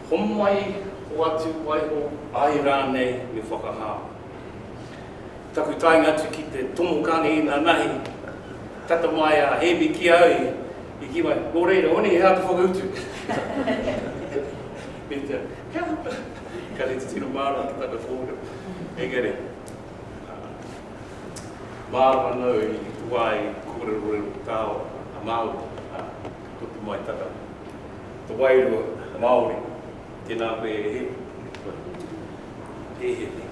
Homai, hoatu waiho, ae ranei me whakahao. Taku taenga atu ki te tomo kāne inanahi, tata mai a Hēmi ki au i kī mai, Nō reira, Oni, he aha te whakautu? Me te, he aha? Ka rite tino mārama ki tana kōrero. Engari, mārama nō i te wā i kōrerorero ki tāua a Māori, ka puta mai tana, te wairua Māori. Tēnā koe e rere. Kua kōti koe. He he he.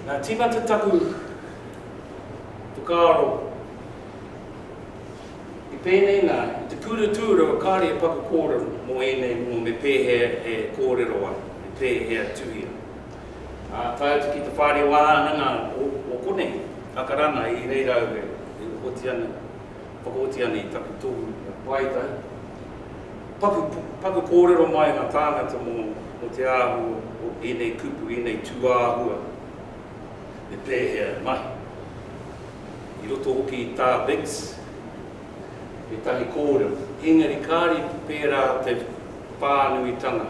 Nā tīmata taku whakaaro i pēnei nā, i te kura tūrua kāre e paku kōrero mō ēnei momo me pēhea e kōrero ai, me pēhea tuhia. Ā, tae atu ki te whārewahānanga o konei, Akarana, i reira au e oti ana. Whakaoti ana i taku tohu kia pai tai. Paku, paku kōrero mai ngā tāngata mō, mō te āhua o ēnei kupu, ēnei tūāhua me pēhea e mahi. I roto hoki i tā Biggs ētahi kōrero, engari kāre i pērā te whānuitanga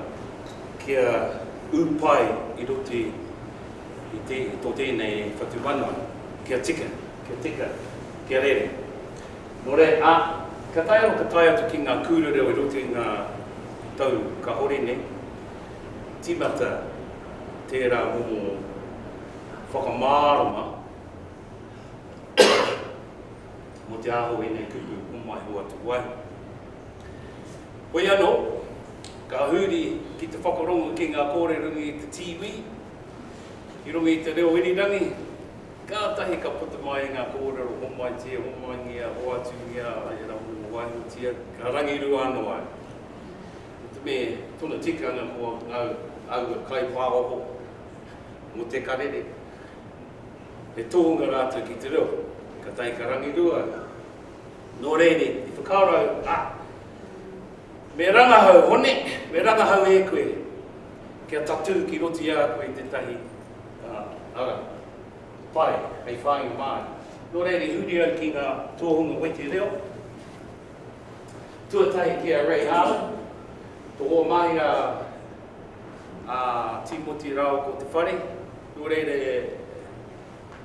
kia ū pai i roto i, i te, tō tēnei whatumanawa, kia tika. Kia tika, kia rere. Nō reira, ā, ka tae anō ka tae atu ki ngā kūrereo i roto i ngā tau kāore nei, tīmata tērā momo whakamārama mō te aho o ēnei kupu homai hoatu wai. Hoi anō, ka huri ki te whakarongo ki ngā kōrerunga i te tīwī, i runga i te reo irirangi, Kātahi ka puta mai ngā kōrero homaitia, homaingia, hoatungia, e rā mō waengatia, ka rangirua anō au. Ko te mea tuna tikanga ko ngau aua kaipāoho mō te karere, he tōnga rātou ki te reo, ka tae ka rangirua au. Nō reiri, i whakaaro au, a, me rangahau, Hone, me rangahau e koe kia tatū ki roto i a koe tētahi. Ā, ara. Pai, hei whāinga māna. Nō reira i huri au ki ngā tōhunga weti reo. Tuatahi ki a Ray Harlan, ko wō mahi a, a Tīmoti rāua ko Te Whare. Nō reira e,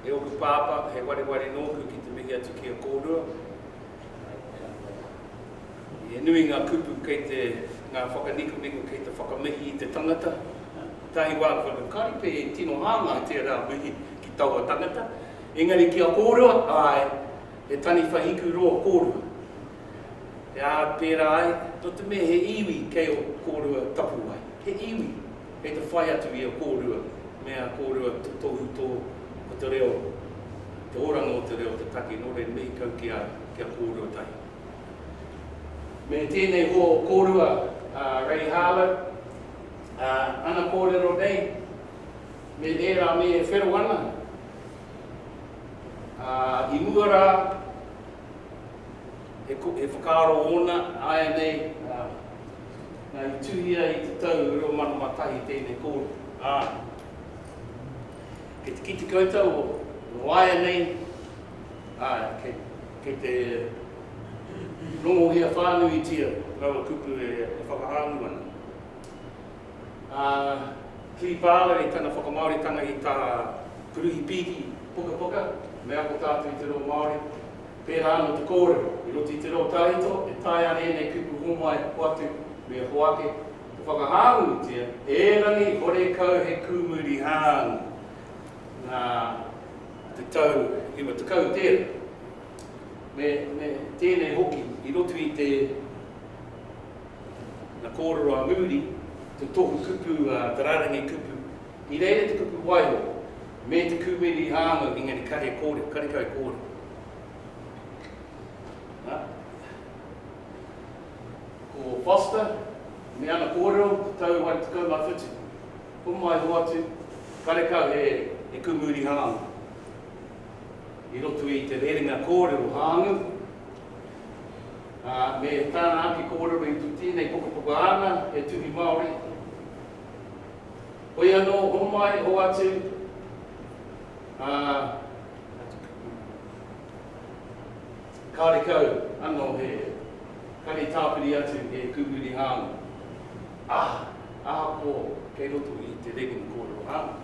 e oku pāpā, he wareware nōku ki te mihi atu ki a kōrua. He nui ngā kupu kei te, ngā whakanikomiko kei te whakamihi i te tangata. Tētahi wā ko te karipe e tino hāngai i tērā mihi ki taua tangata, engari ki a kōrua, āe, he taniwha hiku roa kōrua. He ā, pērā ai, nō te mea he iwi kei ō kōrua tapuwae, he iwi, Kei te whai atu i a kōrua me a kōrua te tohu tō ko te reo, te oranga o te reo te take nō re mihi kau ki a ki a kōrua tahi. Me tēnei hō kōrua a Ray Harlow, a ana kōrero nei me ērā me whero ana, a i mua rā, He whakaaro ōna āianei, nā, i tuhia i te tau 2001 tēnei kōrero, ā, kei te kite koutou ōāianei, ā, kei te rongohia whānuitia rawa kupu e whakahāngu ana. Ā, kiri pāwera i tana whakamāoritanga i tā Kuruhi Pīki pukapuka, Me Ako Tātou i te Reo Māori, Pērā anō te kōrero, i roto i te reo tawhito e taea ana ēnei kupu hōmai hoatu me hoake, te whakahāngūtia, erangi horekau he kūmuri hāngu. Nā te tau iwa tekau tērā, me tēnei hoki i roto i te Nā kōrero a Moody te tohu kupu, te rarangi kupu, I reira te kupu waiho me te kūmere i rāngau, engari kare kore, karekau kore. Nā, ko Foster me ana kōrero o te tau 2017, homai hoatu, karekau he kumuri hāngai. I roto i te rerenga kōrero hāngai, me tāna ake kōrero i tēnei pukapuka āna, he tuhi Māori, Hoi anō, homai, hoatu, ā, kārekau anō he kare tāpiri atu e kūwiri hānga. Aha, aha pō kei roto i te regim kōrero hānga?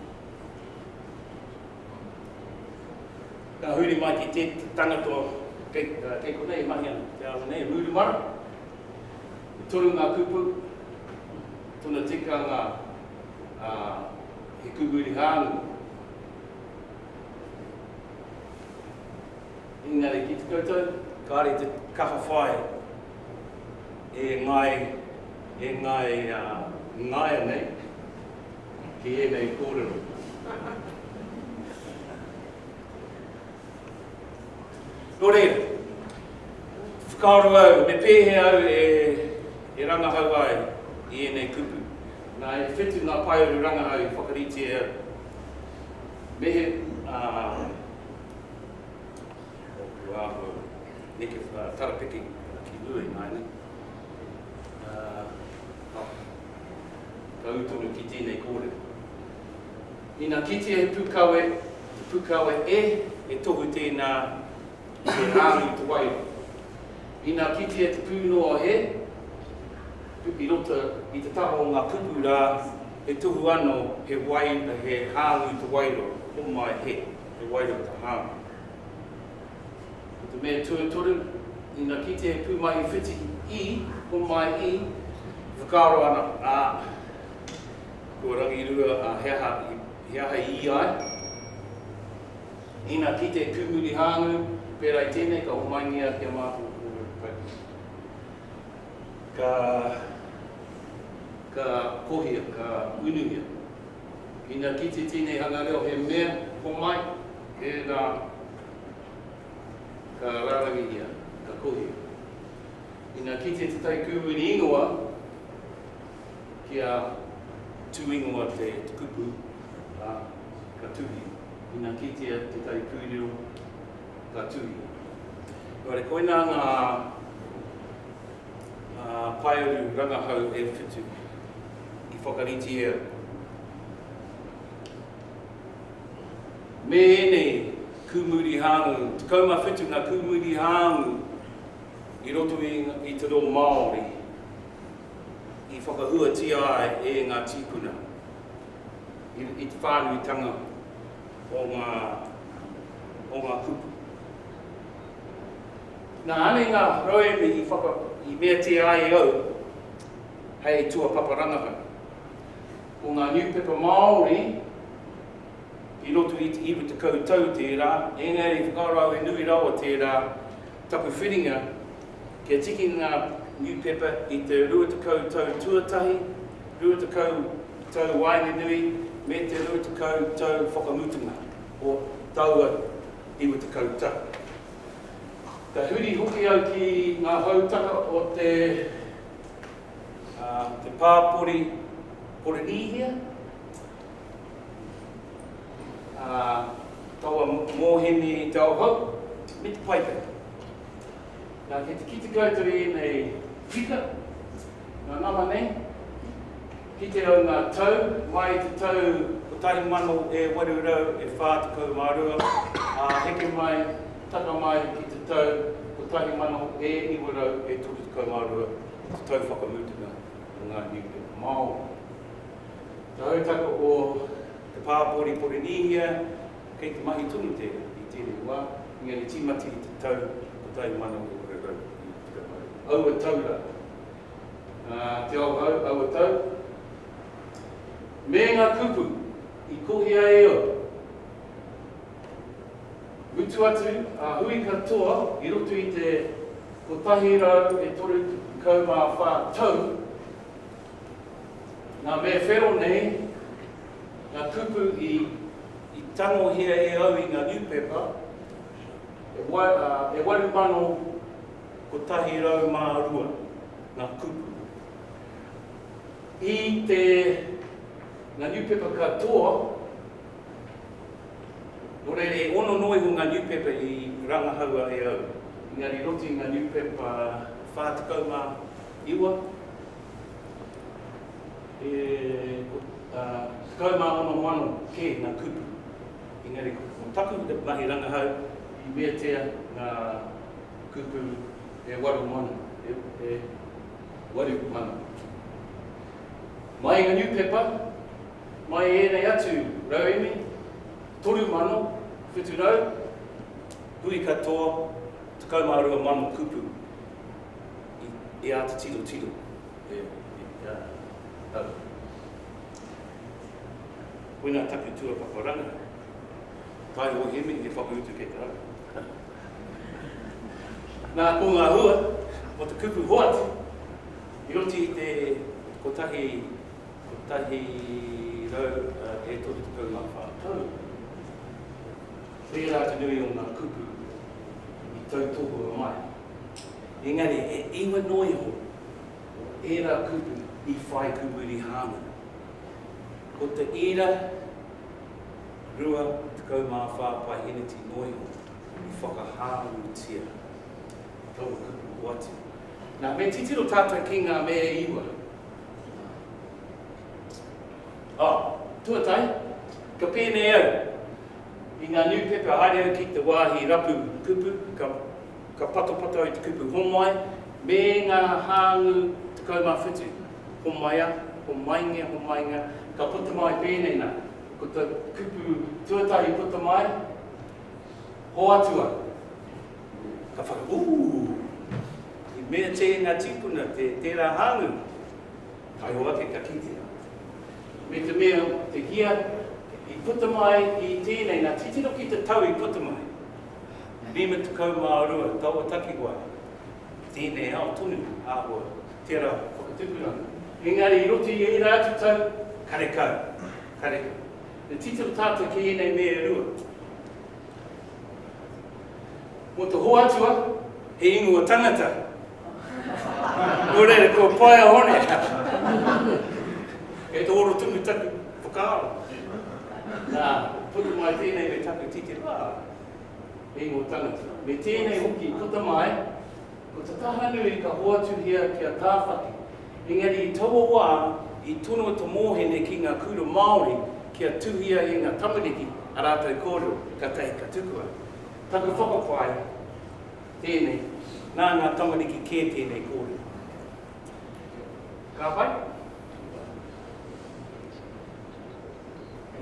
Ka huri mai ki te tangata kei konei e mahi ana, te ārai nei, Rūrumara. E toru ngā kupu. Tona tikanga, ā, he kukuri hāngu. Engari ki te koutou? Kāre te kaha whai e ngāi, e ngāi, ā, ngāianei ki ēnei kōrero. Nō reira, whakaaro au, me pēhea au e rangahau ai i ēnei kupu? Nā, e whitu ngā paearu rangahau i whakarite e au. Me he, ā, ōku āhua neke tarapeke ki mua ināianei, ā, ka ū tonu ki tēnei kōrero. Ina kitea he pukawe, he pukawe e, he tohu tēnā i te rāu i te wai roto. Ina kitea te pūnoa e, i roto i te taha o ngā puku rā, he tohu anō he wai, he hāu i te wai roto, homai he, he wai roto, he hāu. Ko te mea tuatoru, ina kitea he pūmahi whiti i, homai i, e whakaaro ana, ā, Ko Rangirua, a, he aha, he aha i ia ai? Ina kite e Tūmurihāngu, pērā i tēnei ka homaingia ki a mātou ko ōu kaimahi. Ka, ka kohia, ka unuhia. Ina kite tēnei hanga reo he mea homai, ērā ka rārangihia, ka kohia. Ina kite te tai kūwini ingoa, ki a Tu ingoa te kupu, a, ka tuhi. Ina kitea te tai puireo, ka tuhi. Engari koina nga paeru rangahau e whitu i whakaritea me enei kumuri hangu, 17 nga kumuri hangu i roto i te reo Maori i whakahuatia ai e ngā tīpuna i te whānuitanga o ngā, o ngā kupu. Nā ānei ngā rauemi i, whaka, i meatia ai e au hei tuapapa rangahau. Ko ngā niupepa Māori i roto i te iwa tekau tau tērā, engari whakarau e nui rawa tērā Taku whiringa, kia tiki ngā niupepa i te rua tekau tau tuatahi, rua tekau tau waenganui me te rua tekau tau whakamutunga o taua iwa tekau tau. Ka huri hoki au ki ngā hautaka o te te pāpori Porinīhia. ā, taua mōheni i te aohau, me te paetae. Nā, kei te kite koutou i ēnei whika, nā nama nei, kite au ngā tau, mai i te tau 1842, ā, heke mai, taka mai ki te tau 1932, te tau whakamutunga o ngā niupepa Māori. Te hautaka o te pāpori Porinīhia, kei te mahi tonu tērā i tēnei wā, engari tīmata i te tau 1830. Aua tau rā, ā, Te Ao Hau, aua tau, me ngā kupu i kohia e au, mutu atu, a hui katoa i roto i te 134 tau, Nā me whero nei ngā kupu i tangohia e au i ngā niupepa, e 8,102 ngā kupu. I te ngā niupepa katoa, nō reira e ono noa iho ngā niupepa i rangahaua e au. Engari i roto i ngā niupepa 49, iwa, e tekau mā ono mano kē ngā kupu, engari ko taku mahi rangahau i meatia ngā kupu e waru mano, e waru mano. Mai ngā niupepa, mai ēnei atu rauemi, toru mano, whitu rau, hui katoa, tekau mā rua mano kupu. i āta tiro tiro e a au. Koinā taku tua paparanga, kai o Hemi he whakautu kei te rapu. Nā, ko ngā hua o te kupu hoatu, i oti i te kotahi, kotahi rau e toru tekau mā whā tau, tērā te nui o ngā kupu i tautohua mai. Engari, e iwa noa iho ērā kupu i whai kumuri hāngai. Ko te ira 24 paiheneti noa iho i whakahāngūtia taua kupu hoatu. Nā, me titiro tātou ki ngā mea e iwa. Ā, tuatahi, ka pēnei au i ngā niupepa haere au ki te wāhi rapu kupu, ka Ka patapato i te kupu homai me ngā hāngu 17. Homaia, homaingia, homaingia, ka puta mai pēnei nā. Ko te kupu tuatahi i puta mai, hoatu au. Ka whaka, Ooh! I mea tē ngā tīpuna, tērā hāngu. Whaiho ake ka kitea. Me te mea, te hia i puta mai i tēnei nā, titiro ki te tau i puta mai. Lima tekau mā rua taua takiwā i tēnei ao tonu āhua tērā whakatupuranga. Engari i roto i ērā atu tau karekau, karekau, me titiro tātou ki ēnei mea e rua. Mō te hoa atua, he ingoa tangata. Ko rere, ko paia hone. Kei te oro tumu taku whakaaro. Nā, puta mai tēnei me taku titipā. Hei ngō tangata. Me tēnei hoki, puta mai, ko te taha nui ka hoatuhia ki a Tāwhaki. Engari i taua wā, i tono te mōhene ki ngā kura Māori kia tuhia e ngā tamariki a rātou kōrero, kātahi ka tukua. Taku whakapae, Tēnei, nā ngā tamariki kē tēnei kōrero. Ka pai?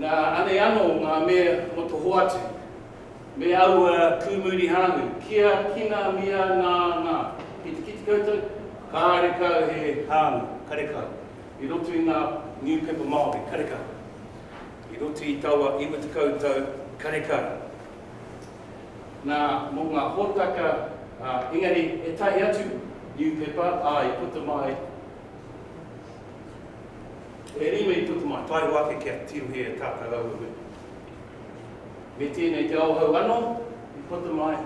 Nā, anei anō ngā mea o te hoatu, me aua kūmuri hānui, kia kina mia nā, nā. Ki te kite koutou, kārekau he hānui, karekau, i roto i ngā niupepa Māori, karekau, i roto i taua iwa tekau tau, karekau. Nā, mō ngā hōtaka, ā, engari he tahi atu niupepa, ā, i puta mai, e rima i puta mai. Taero ake kia tirohia e tātau aua mea. Me tēnei te Aohau anō i puta mai,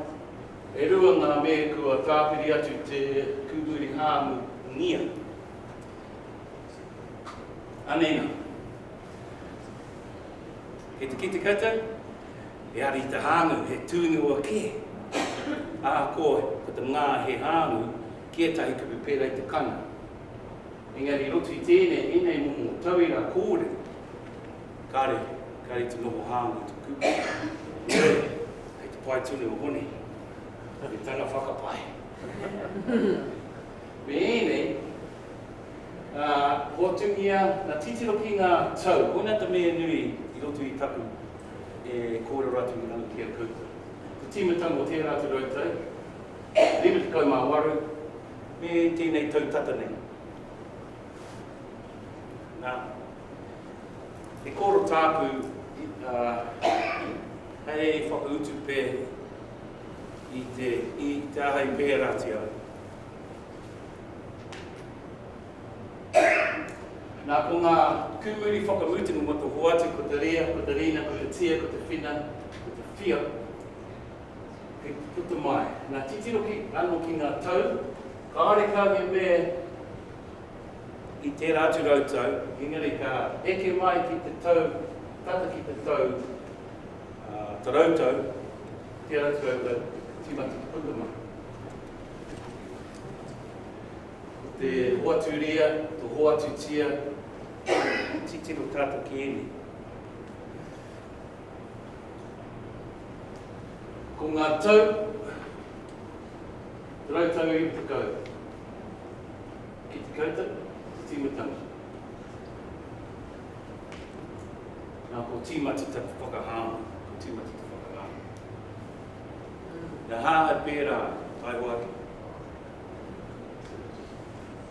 e rua ngā mea kua tāpiri atu te kūhuri hāngungia. Anei nā. Kei te kite koutou, He hari te hāngu, he tūnua kē. Ahakoa ko te ngā he hāngu ki ētahi kupu pērā i te kana. Engari i roto i tēnei, ēnei momo tauira kōrero, kāre, kāre te noho hāngu i te kupu. Heoi, kei te pae tonu o Hone me tana whakapae. Me ēnei, ā, hotungia, ā, titiro ki ngā tau. Koinā te mea nui i roto i taku e kōrero atu i runga ki a koutou. Te tīmatanga o tērā atu rautau, 58, me tēnei tau tata nei. Nā, he kōrero tāku, ā, hei whakautu pea i te, i te aha i pēratia Nā, ko ngā kūmuri whakamutunga mō te hoatu, ko te rea, ko te rina, ko te tia, ko te whina, ko te whio, he puta mai. Nā, titiro ki, anō ki ngā tau, kāore kau he mea i tērā atu rautau, engari ka eke mai ki te tau, tata ki te tau, ā, te rautau, tērā atu rautau, tīmata ki puta mai. Ko te hoatu ria, to hoatu tia, he titiro tato ki enei. Ko nga tau, rau tau iwi tekau, ki te koutou, te timutanga. Nga ko timati taku whakahanga, ko timati taku whakahanga. He aha e pērā, tae hoatu?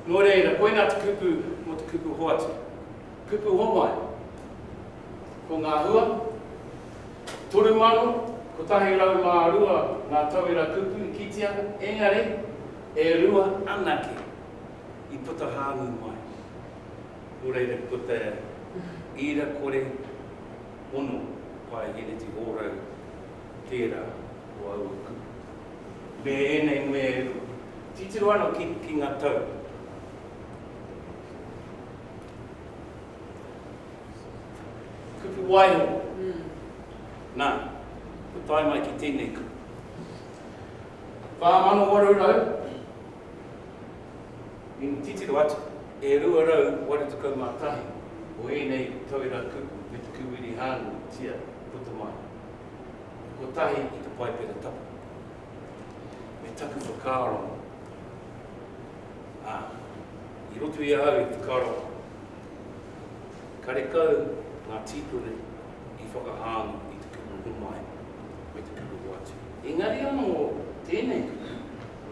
Nō reira, koinā te kupu mō te kupu hoatu. Kupu homai. Ko ngā hua, 3,102 ngā tauira kupu i kite ana, engari, e rua anake i puta hāngu mai. Nō reira, ko te ira kore ono pae heneti hōrau Tērā ko aua kupu. Me ēnei nuē e pu. Titiro ano ki, ki nga tau. Kupu waiho. Na, kua tae mai ki tēnei kupu. 4800 i titiro atu e 281 o ēnei tauira kupu me te kūwiri hāngu tia puta mai. kotahi i te Paipera Tapu, me taku whakaaro, ā, i roto i a au i te karo, karekau ngā tīpuna i whakahāngu i te kupu homai me te kupu hoatu. Engari anō tēnei kupu,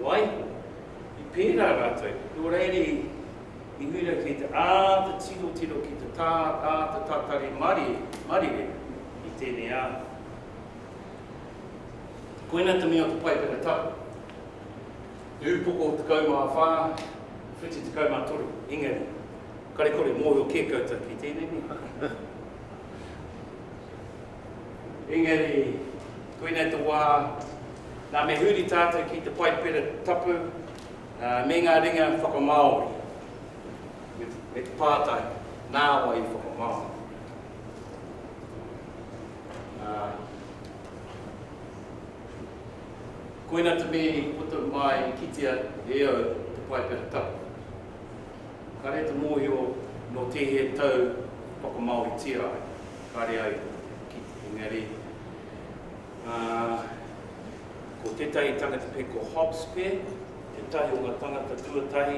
waiho, i pērā rātou, nō reira i huira ki te āta tiro tiro ki te tā, āta tatari marire, marire, i tēnei ao. Koina te mea o te paipera tau, te upoko 14, whitu 13, engari, kare kore mōhio kē koutou ki tēnei nei. Engari, koina te wā, nā me huri tātou ki te paipera tapu, me ngā ringa whakamāori, me te pātai, nā wai i whakamāori? Koina te mea i puta mai i kitea e au te Paipera Tapu. Kare te mohio no tehe tau whakamaoritia ai, kare ai ki te engari ko tetahi tangata pe ko Hobbs pe tetahi o nga tangata tuatahi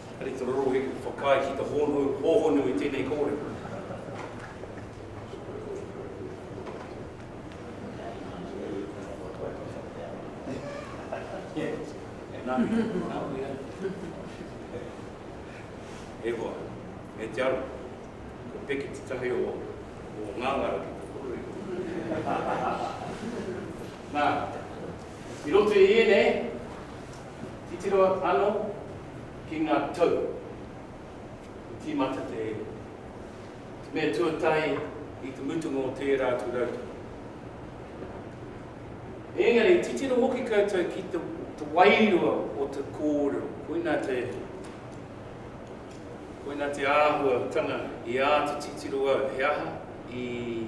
Ari te rorohi ka whakaae ki te hōhonu i tēnei kōrero. E hoa, e te ara, ko Peke tetahi o ngangara ki te rorohi. Na, i roto i ēnei, Titiro ano ki nga tau i timata te iwi, te mea tuatahi i te mutunga o tera atu rautau. Engari, titiro hoki koutou ki te wairua o te korero, koina te, koina te ahua tanga i a te titiro au, he aha i.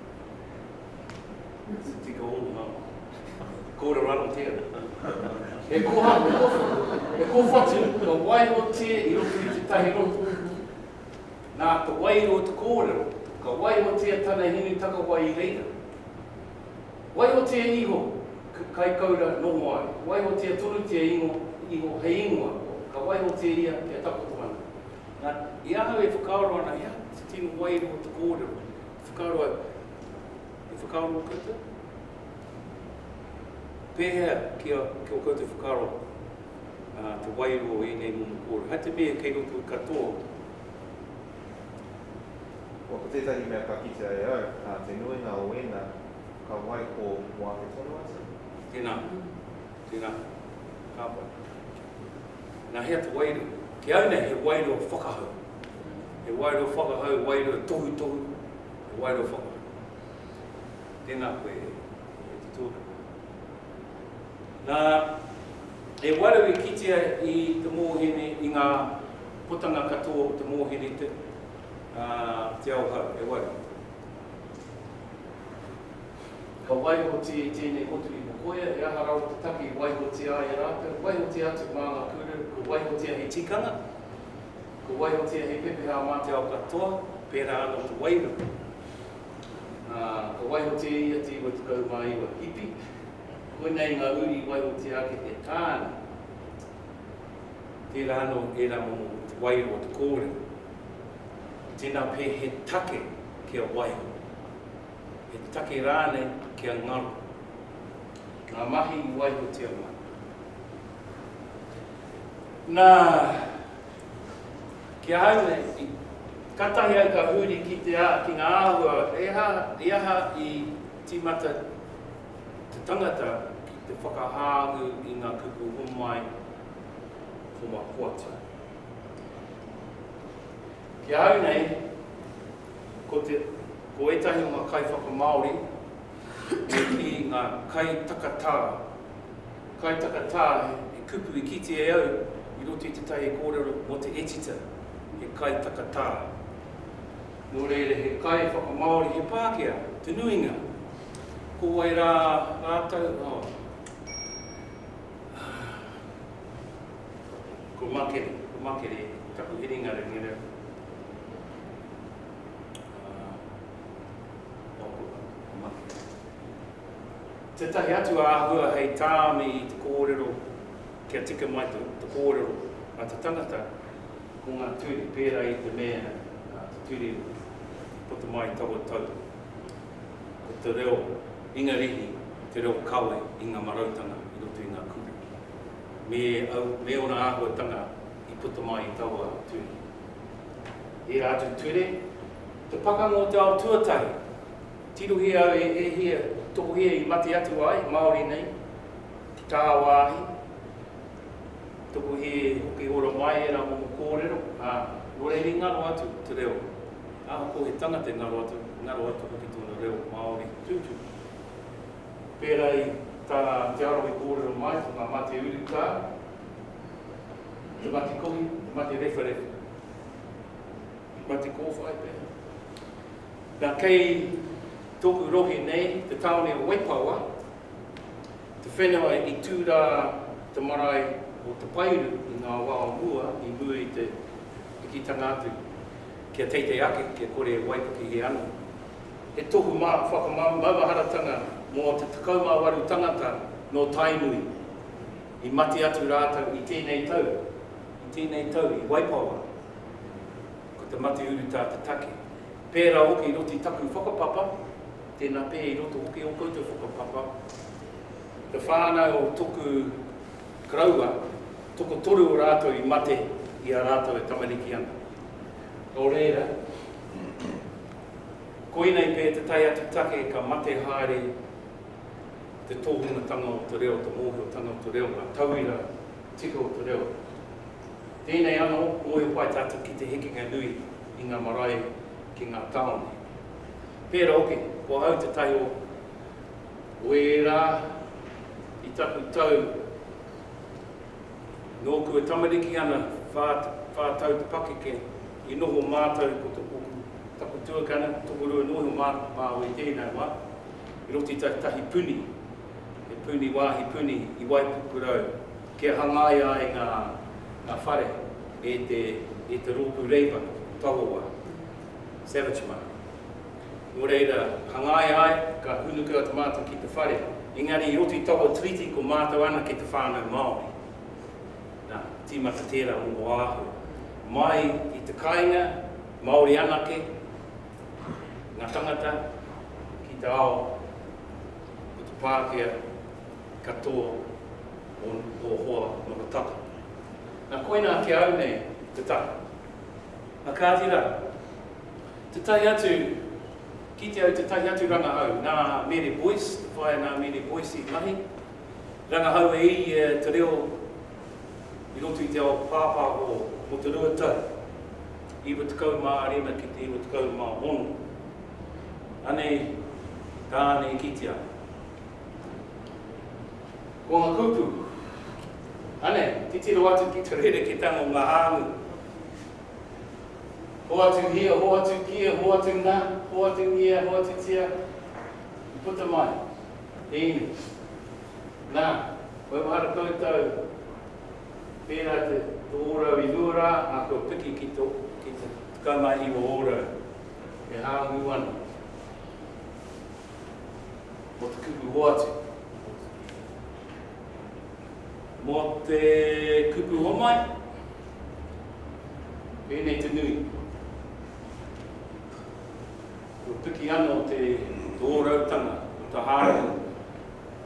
It's a tika ō ngā. Kōrero anō tēnā. He koha, he kōwhatu ka waihotia i roto i tētahi rōpū. Nā te waiho o te kōrero, ka waihotia tana hinu takawai i reira. Waihotia iho ka kaikaura noho ai, waihotia tonutia ingo iho hei ingoa, ka waihotia ia kia takoto ana. Nā, i ahau e whakaaro ana hea te tino waiho o te kōrero, Whakaaro au. He whakaaro o koutou? Pēhea ki a, ki o koutou whakaaro, ā, te wairua o ēnei momo kōrero? Hai te mea kei roto i katoa o. Kua ko tētahi mea ka kitea e au, ā, te nuinga o ēnā, ka waiho mō ake tonu atu? Tēnā. Tēnā. Ka pai. Nā hea te wairua? Ki au nei he wairua whakahau. He wairua whakahau, wairua tohutohu, he wairua whakahau. Tēnā koe e te tūranga. Nā, he wairua i kitea i te mōhine, i ngā putanga katoa o te mōhine te, uh, Te Auhau, he wairua. Ka waihotia i tēnei motu i Mokoia, he aha rawa te take i waihotia ai e rātou? Waihotia atu mā ngā kūrere, kua waihotia hei tikanga, kua waihotia hei pepeha mā te ao katoa, pērā anō te wairua. Ā, ka waihotia e ia te 99 hipi, koinei ngā uri i waihotia ake e Tāne. Tērā anō ērā momo o te wairua o te kōrero. Tēnā pea he take kia waiho. he take rānei kia ngaro i ngā mahi i waihotia mai. Nā, ki ahau nei, katahi au ka huri ki te a, ki ngā āhua, he aha, he aha i tīmata te tangata ki te whakahāngu i ngā kupu homai homapoata. Ki ahau nei, Ko te, ko ētahi o ngā kaiwhakamāori me kī ngā kaitakatā. Kaitakatā he kupu i kite e au i roto i tētahi kōrero mō te etita, he kaitakatā. Nō reira he kaiwhakamāori, he Pākehā, te nuinga. Ko wai rā rātou, oh, ko Makere, ko Makere, taku herenga rengera. Tētahi atu āhua hei tāmi i te kōrero kia tika mai te kōrero a te tangata ko ngā ture pērā i te mea te ture puta mai taua tau ko te reo Ingarihi te reo kawe i ngā marautanga i roto i ngā kupu me ōna āhuatanga i puta mai i taua turi. Ērā atu ture, te pakanga o te ao tuatahi, tirohia au e ēhia tokohia i mate atu ai, Māori nei, ki tā wāhi, tokohia e hoki ora mai ērā momo kōrero, ā, nō reira i ngaro atu te reo, ahakoa he tangata i ngaro atu, i ngaro atu hoki tōna reo Māori tūturu. Pērā i tā Te Arawa i kōrero mai, ko ngā mate urutā, He mate kohi, he mate rewharewha, he mate kōwhai pea. Na kei toku rohe nei, te taone o Waipawa, te whenua i tu ra te marae o Te Pairu i nga wa o mua i mua i te pikitanga atu kia teitei ake kia kore e waipukehe ano. He tohu ma whakamau maumaharatanga mo te 18 tangata no Tainui. I mate atu rātou i tēnei tau. I tēnei tau i Waipawa. Ko te mate urutā te take. Pērā hoki i roto i taku whakapapa, tēnā pea i roto hoki i ō koutou whakapapa, te whānau o toku karaua, tokotoru o rātou i mate i a rātou e tamariki ana. Nō reira, koinei pea te tae atu take ka mate haere. te tōhungatanga o te reo, te mōhiotanga o te reo, ngā tauira tika o te reo. Tēnei anō, mōhio pai tātou ki te hekenga nui i ngā marae ki ngā tāone. Pērā hoki, ko ahau te tahi o o ērā i taku tau nōku e tamariki ana, whā, whā tau te pakeke, i noho mātou ko taku tuakana, tokorua nō iho mā, māu i tēnā wā. I roto i tau tahi puni, he puni wāhi puni i Waipukurau kia hangaia ai ngā ngā whare e te e te rōpū reipa Tawowa, Savage Mart. Nō reira, hangaia ai, ka hūnuku atu mātou ki te whare, engari i roto i taua treaty ko mātou anake te whānau Māori. Nā, tīmata tērā mō Oāhu. Mai i te kāinga, Māori anake. ngā tangata ki te ao o te Pākehā katoa o hoa noho tata. Na koina ki au nei te taha. Na kāti rā, tētahi atu, kite au tētahi atu rangahau, nā Mere Boyce, te whaea nā Mere Boyce i mahi, rangahau e i ia te reo i roto i te ao pāpāho mō te rua tau. 95 ki te 96. Anei tāna i kite ana. Ko nga kupu. Anei, titiro atu ki te rereketanga o nga hāngu. Hoatu hia, hoatu kia, hoatu na, hoatungia, hoatutia, i puta mai. He inu. Na, wewhara koutou. Pērā te to ōrau i mua rā, ā, kua piki ki to, ki te tekau mā iwa ōrau, e hāngu ana mō te kupu hoatu. Mō te kupu homai, pēnei te nui. Kua piki anō te, te ōrautanga, te hāngu.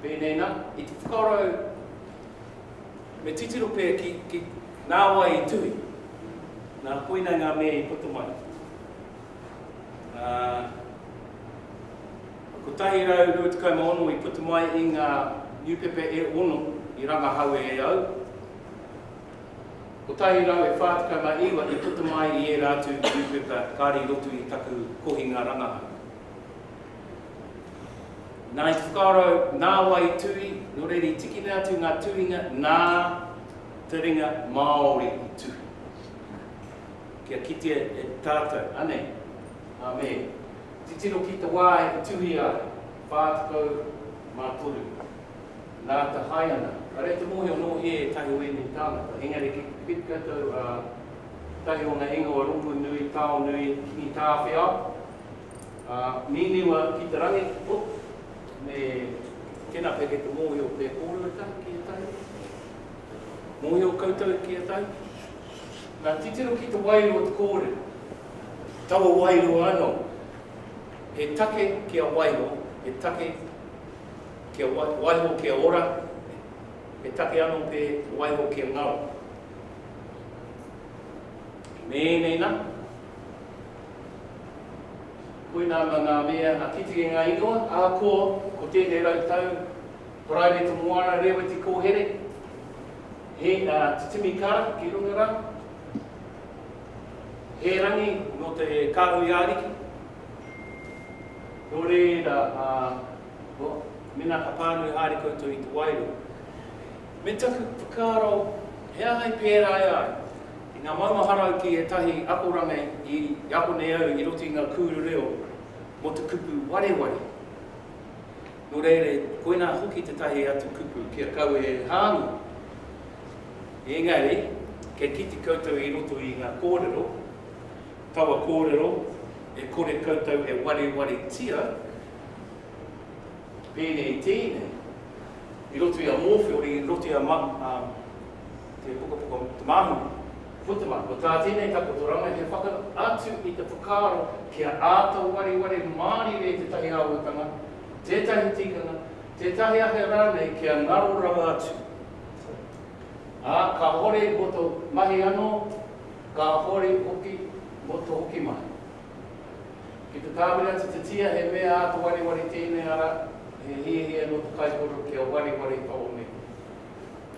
Pēnei nā, i te whakarau me titiro pea ki nā wai i tuhi, nā koinei ngā mea i puta mai. Nā 126 i puta mai i ngā niupepa e ono i rangahaue e au, 149 i puta mai i ērā atu niupepa kāre i roto i taku kohinga rangahau. Nā i whakarau, nā wai i tui, nō reira i tikina atu ngā tuhinga nā te ringa Māori i tuhi. Kia kitea e tātou, anei, ā, me titiro ki te wā i tuhi a 43 nā te hae ana. Ka rere te mōhio nō hē ētahi o ēnei tāngata, engari ki te piki koutou, ā, tahi o ngā ingoa rongonui, taonui, Kitāwhiao, Ā, nīniwa ki te rangi, Oh, me tēnā pea kei te mōhio pea kōrero e tahi ki ētahi. Mōhio koutou ki ētahi. Nā, titiro ki te wairua o te kōrero. Taua wairua anō. He take kia waiho, he take kia waiho kia ora, he take anō pea waiho kia ngaro. Me ēnei nā. Koinā mā ngā mea, ngā kitenga ingoa, ākō, ko tēnei rau tau, Paraire to Moana, Rēweti Kōhere, he, ā, titimi kara ki runga rā, he rangi nō te kāhui āriki, nō reira, ā, nō, mēnā ka pānui haere koutou i te wairua, Me taku whakaaro, he aha i pērā e ai? I ngā maumahara au ki ētahi akoranga i ako nei au i roto i ngā kūru reo mō te kupu wareware. Nō reira, koinā hoki tētahi atu kupu kia kaua e hāngai. Engari, kia kite koutou i roto i ngā kōrero, taua kōrero e kore koutou e warewaretia, Pēnei i tēnei, i roto i a Mōwhiori, i roto i a Manu, ā, te pukapuka o Te Māhine, ko te mana, ko tā tēnei takoto rama he whakaatu i te whakaaro kia āta wareware mārire tētahi āhuatanga, tētahi tikanga, tētahi ake rānei kia ngaro rawa atu. Ā, kāhore mō tō mahi anō, kāhore hoki mō tō hoki mahi. Ki te tāwiri atu te tia, he mea āta wariwari tēnei ara, he hiahia nō te kaikōrero kia wariwari tōu mihi.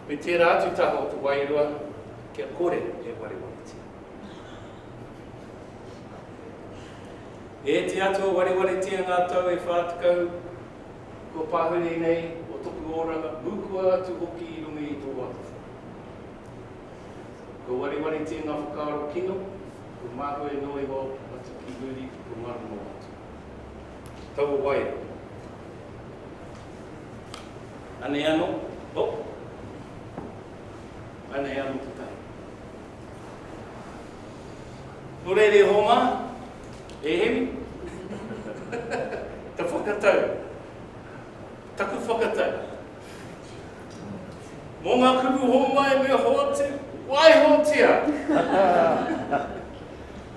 Me tērā atu taha o te wairua kia kore e wariwaritia. E te Atua, wariwaritia ngā tau e whā tekau kua pāhure nei o toku oranga, mukua atu hoki i runga i tō atawhai. Kua wariwaritia ngā whakaaro kino, Ko māku e noi hoki atu ki muri i te maru mō atu. Ki taua wai rā. Anei anō, oh! Anei anō te tahi. Nō reira e Hōmā, e Hemi, ta whakatau, taku whakatau, Mō ngā kupu hōmai me hoatu, waihotia!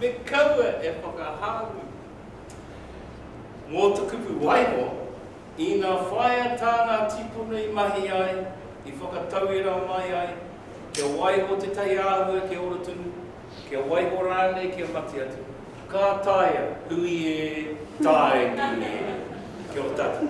Me kaua e whakahāngi. Mō te kupu waiho, ina whāia tā ngā tīpuna i mahi ai, i whakatauira mai ai, kia waiho te taiāhua kia ora tonu, Kia waiho rānei kia mate atu. Ka taea, ui e, taengi e. Kia ora tātou.